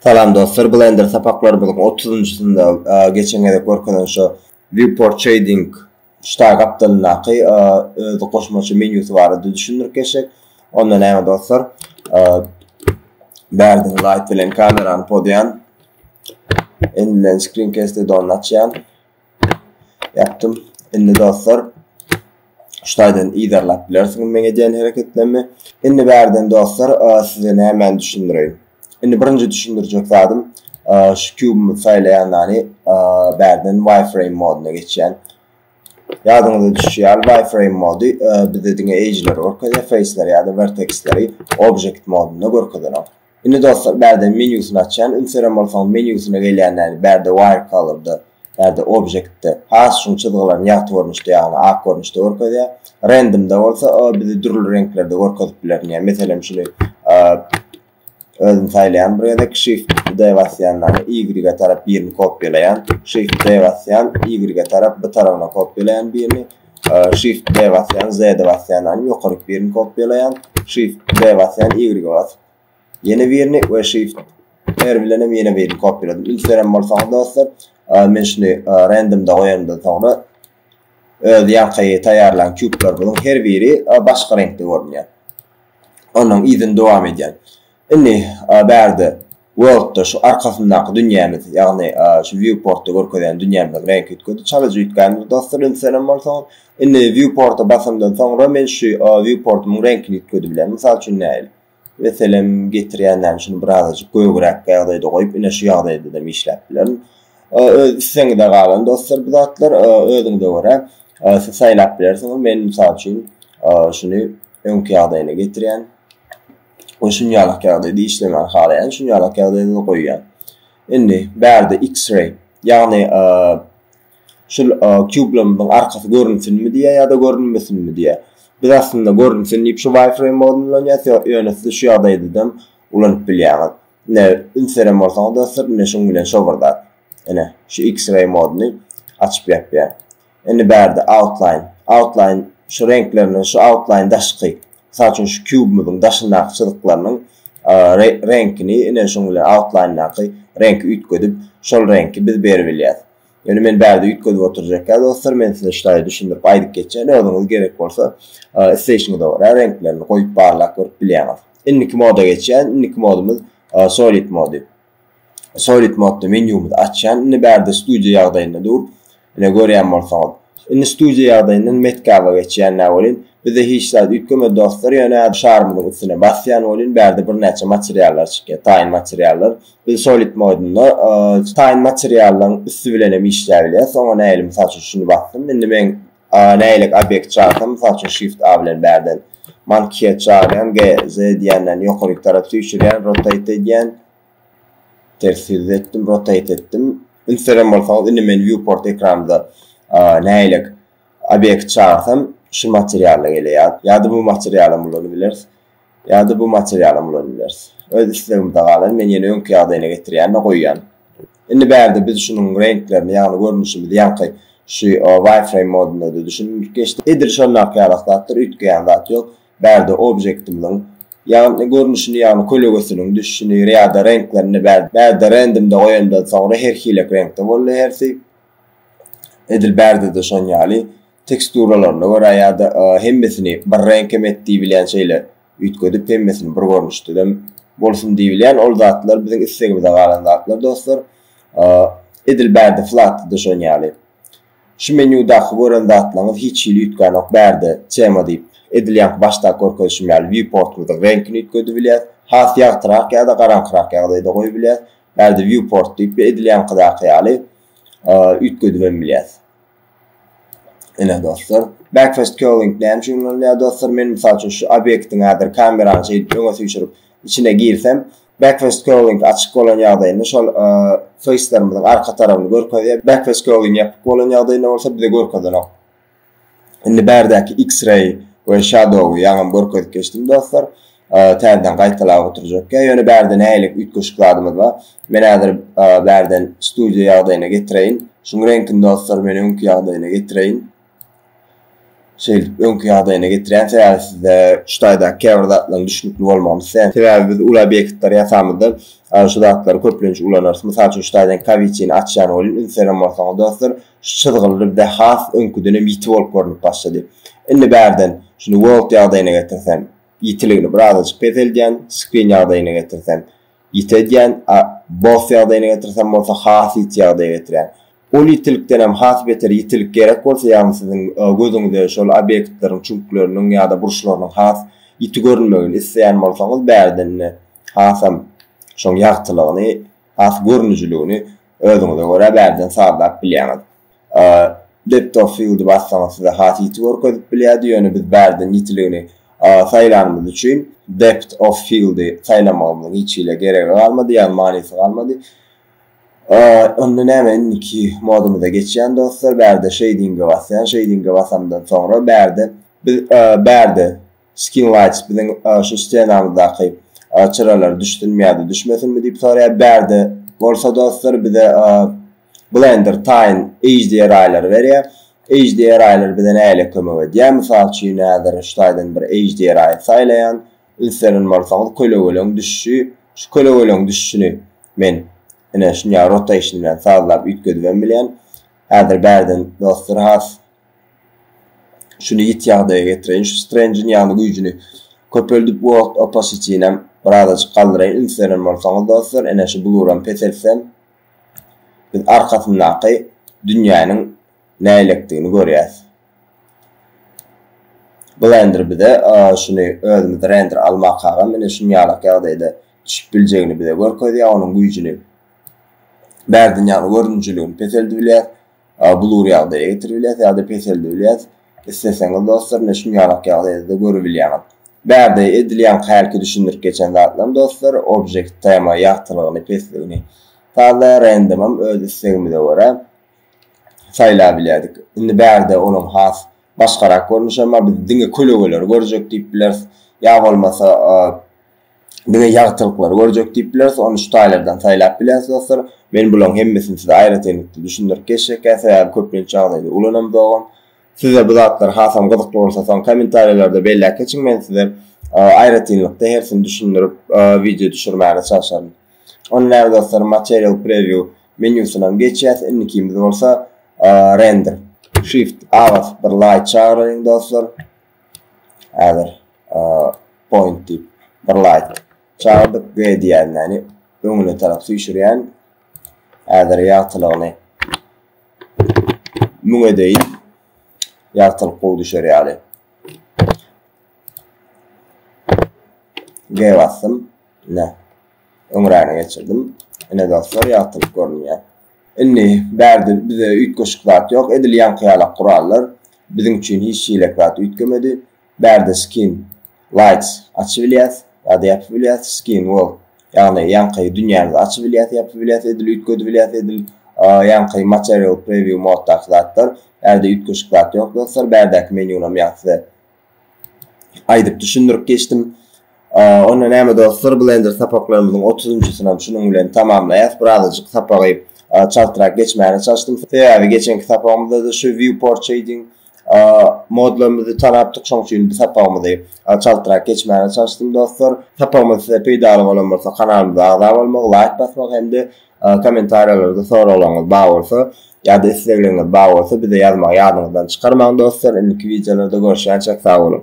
Salam dostlar, Blender sapaklarymyzyň 30-njysynda geçen gezek görkezen şu viewport shading Ştaý gapdalyndaky öz goşmaça menýusy barada düşündirip geçsek, onda näme dostlar? Bärden Light bilen kamerany podýan. Indi bilen Screencast add-onyny açýan. Ýapdym. Indi dostlar, ştaýdan yzarlap bilersiňiz meň edýän hereketlerimi. Indi bärden dostlar, size nämäni düşündireýin? Indi birinji düşündirjek zadym şu kübümi saýlaýandany bärden wireframe moduna geçýän. Ýadyňyza düşýär, wireframe mody bizde diňe edge-leri görkezýär, face-leri ýa-da vertex-leri object modunda görkezenok. Indi dostlar, bärden menýusyny açýan, ünseren bolsaňyz menýusyna gelýän, ýagny bärde wire color-da Ýa-da objektde has şuň çyzgylaryny ýagty görnüşde, ýagny ak görnüşde görkezýär. Random-da bolsa o bizi dürli reňklerde görkezip biler. Diňe meselem şuny özüm saýlaýan bir gezek shift D basýan dany Y-e tarap birini kopýalaýan. Shift D basýan Y-e tarap bu tarabyna kopýalaýan birini. Shift D basýan Z-e basýan dany ýokaryk birini kopýalaýan. Shift D basýan Y-e basyp Ýene birini we shift R bilen hem ýene birini kopýaladyp ilkidenem bolsa dostlar, men şuny randomda goýandan soňra öz ýaňky taýýarlan kublarymyň her biri başga reňkde görünýär. Onuň yzyny dowam edýän. Indi bärde worldda şu arkasyndaky dünýämiz, ýagny şu viewportda görkezýän dünýämiziň reňki üýtgedi. Çalyjy üýtgändir dostlar ilkidenem bolsa. Indi viewporta basandan soňra men şu viewportymyň reňkini üýtgedibilýän. Mysal üçin nähili? Meselem getirýän näme şuny birazajyk gögräk ýagdaýda goýup ine şu ýagdaýdadam işläp bilerin. Öz islegiňize galan dostlar bu zatlar özüňize görä siz saýlap bilersiňiz men mysal üçin şuny öňki ýagdaýyna getirýän we şunýalak ýagdaýda işlemän halaýan şunýalak ýagdaýda goýýan. Indi bärde x-ray ýagny şul kublamyzyň arkasy görünsinmi diýýär ýa-da görünmesinmi diýýär. Biz aslynda görünsin diýip şu wireframe ýaly ulanýas, ýöne siz şu ýagdaýdadam ulanyp bilýäňiz. Ine, üns beren bolsaňyz dostlar, ine şuň bilen şo bir zat. Ine, şu X-ray moduny açyp-ýapýar. Indi bärde outline, outline şu reňklerinden şu outline daşky, mysal üçin şu kubymyzyň daşyndaky çyzyklarynyň reňkini ine şuň bilen outline-daky reňki üýtgedip, şol reňki biz beribilýäs. Ýöne men bärde üýtgedip oturjakka dostlar, men size ştaýy düşündirip aýdyp geçýän, özüňiz gerek bolsa isleýşiňize görä reňklerini goýup barlap görüp bilýäňiz. Indiki moda geçýän, indiki modumyz solid mody. Solid modda menýumyzy açýan, indi bärde studio ýagdaýynda dur. Ine görýän bolsaňyz. Indi studiýa ýagdaýyndan metgaba geçýän nä welin, bize hiç zat üýtgemedi dostlar ýöne şarymyzyň üstüne basýan welin bärde birnäçe materiallar çykýar, taýyn materiallar. Biz solid modunda taýyn materiallaryň üsti bilenem işläbilýäs. Oňa nähili mysal üçin şuny basdym. Indi men nähilek obýekt çagsam mysal üçin shift a bilen bärden monkey çagyrýan, gz diýýän näni ýokaryk tarap süýşürýän, rotate edýän. Ters ýüz etdim, rotate etdim. Üns beren bolsaňyz, indi men viewport ekranymda nägilek obyekt çagyrsam, şu materialda geleýär. Ýa-da bu materialam ulanyp bileris. Ýa-da bu materialam ulanyp bileris. Öz islegimize galan, men ýene öňki ýagdaýyna getirýän-de goýýan. Indi bärde biz şunuň reňklerini, ýagny görnüşimizi ýaňky şu wireframe modunda-da düşündirip geçdik. Edil şondaky ýalak zatdyr, üýtgeýän zat ýok. Bärde objektimiziň Ýagny görnüşini ýagny kölegesiniň düşüşini ýada reňklerini bärde rendimde goýandan soňra her hilek reňkde boldy hersi edil bärdede şon ýaly teksturalaryna görä ýada hemmesini bir reňk hem et diýbilýän şeýle üýtgedip hemmesini bir görnüşdedem bolsun diýbilýän ol zatlar biziň islegimize galan zatlar dostlar edil bärde flatda-da şon ýaly. Şu menýudaky gören zatlaryňyz hiç hili üýtgänok bärde, tema diýip, edil ýaňky başdaky görkezişim ýaly Viewportymyzyň reňkini üýtgedebilýäs, has ýagtyrak ýa-da garaňkyrak ýagdaýda goýubilýäs, bärde Viewport diýip we edil ýaňkydaky ýaly üýtgedibem bilýäs. Ine dostlar. Backfast Curling näme üçin ulanylýar dostlar? Men mysal üçin şu obýektiň häzir kamerany şeýdip öňe süýşürip içine girsem, Backward scrolling açyk bolan ýagdaýynda şol feýslerimiziň arka tarabyny görkezýär. Backward scrolling ýapyk bolan ýagdaýynda bolsa bize görkezenok. Indi bärdäki X-ray we shadow-y ýaňam görkezip geçdim dostlar. Täzeden gaýtalap oturjak. Ýöne bärde nähili üýtgeşik zadymyz bar. Men häzir bärden studio ýagdaýyna getireýin. Şuň reňkini dostlar men öňki ýagdaýyna getireýin. Şeýdip, öňki ýagdaýyna getirýän sebäbi sizde şu taýdaky käbir zatlaryň düşnükli bolmagyny isleýän. Sebäbi biz uly obýektleri ýasamyzda şu zatlary köplenç ulanarys. Mysal üçin şu taýdan kawiçini açýan welin ünseren bolsaňyz dostlar şu çyzgyly bizde has öňküden hem ýiti bolup görnüp başlady. Indi bärden şuny world ýagdaýyna getirsem ýitiligini birazajyk peseldýän, screen ýagdaýyna getirsem ýiti edýän, a boss ýagdaýyna getirsem bolsa has ýiti ýagdaýa getirýän. Ol ýitilikdenem has beter ýitilik gerek bolsa, ýagny siziň gözüňize şol obýektleriň çüňkleriniň ýa-da burçlarynyň has ýiti görünmegini isleýän bolsaňyz, bärden ine, hasam şoň ýagtylygyny, has görnüjiligini özüňize görä bärden sazlap bilýäňiz. Depth of field-i bassaňyz size has ýiti görkezip bilýärdi, ýöne biz bärden ýitiligini saýlanymyz üçin depth of field-i saýlamagymyzyň hiç hili geregi galmady, ýagny manysy galmady. Onda näme indiki modumyza geçýän dostlar bärde şeýdinge basýan şeýdinge basamdan soňra bärde biz bärde skin lights biziň şu stenamyzdaky çyralary düşdünmi ýada düşmesinmi diýip soraýar bärde bolsa dostlar bize blender taýyn hdri-lary berýär hdri-lar bize näle kömek edýär mysal üçin häzir şu taýdan bir hdri saýlaýan üns beren bolsaňyz kölegeleň düşüşi şu kölegeleň düşüşini Men, ine, şinjag rota işini bilen sazlap üýtgedibem bilýän. Häzir bärden dostlar has şuny ýiti ýagdaýa getireýin, şu Strendjiň ýagny güýjüni köpeldip World Oppositinem birazajyk galdyraýyn. Üns beren bolsaňyz dostlar, ine, şu bluram peseltsem, biz arkasyndaky dünýäniň näýlekdigini görýäs. Blender bize şuny özümizde render almakagam ine şuny ýalak ýagdaýda Düşüp biljegini bize görkezýär, onuň güýjüni, bärdünýäniň görünijilgini peseldip bilýäs, blur ýagdaýa getirip bilýäs ýa-da peseldip bilýäs. Isleseňiz dostlar, ine şum ýalak ýagdaýda-da görübilýäňiz. Bärde edilýän hälki düşündirip geçen zatlarym dostlar, object tema ýagtylygyny, pesligini sazlaýar, random-am öz islegimize görä saýlap bilýärdik. Indi bärde onuň has başgarak görnüşem bar, biz diňe kölegeleri görjek diýip bileris, ýa bolmasa Bize ýagtylyklary görjek diýip bileris, ony şu taýlardan saýlap bileris dostlar. Men bularyň hemmesini size aýratynlykda düşündirip geçjekkä, sebäbi köplenç ýagdaýda ulanamzogam. Size bu zatlar hasam gyzykly bolsa soň kommentariýalarda belläp geçiň, men size aýratynlykda hersini düşündirip wideo düşürmäne çalşaryn. Onda näme dostlar Material Preview menýusynam geçýäs, indikimiz bolsa Render. Shift A basyp bir Light çagyraýyň dostlar. Häzir point diýip bir laýt çagyrdyk we diýýänini öňüne tarap süýşürýän. Häzir ýagtylygyny müň edeýin. Ýagtylyk gowy düşer ýaly. G basdym. Ne. Öňräni geçirdim. Ine dostlar ýagtylyk görünýär. Indi, bärde bize üýtgeşik zat ýok, edil ýaňky ýalak gurallar biziň üçin hiç şeýlek zat üýtgemedi. Bärde Skin Lights açybilýäs ýa-da ýapybilýäs, Skin World, ýagny ýaňky dünýämizi açybilýäs, ýapybilýäs, edil üýtgedibilýäs, edil ýaňky Material Preview moddaky zatlar. Bärde üýtgeşik zat ýok, dostlar. Bärdäki menýunam ýaňky size aýdyp düşündirip geçdim. Onda näme dostlar, Blender sapaklarymyzyň 30-njysyny hem şunuň bilen tamamlaýas. Birazajyk sapagy çaltrak geçmäne çalyşdym. Sebäbi geçenki sapagymyzda-da şu viewport shading modlarymyzy tanapdyk, şoň üçin bu sapagymyzy çaltrak geçmäne çalyşdym dostlar. Sapagymyz size peýdaly bolan bolsa kanalymyza agza bolmagy, laýk basmagy hem-de Kommentariýalarda soraglaryňyz bar bolsa ýa-da islegleriňiz bar bolsa bize ýazmagy ýadyňyzdan çykarmaň dostlar indiki wideolarda görüşýänçäk sag boluň.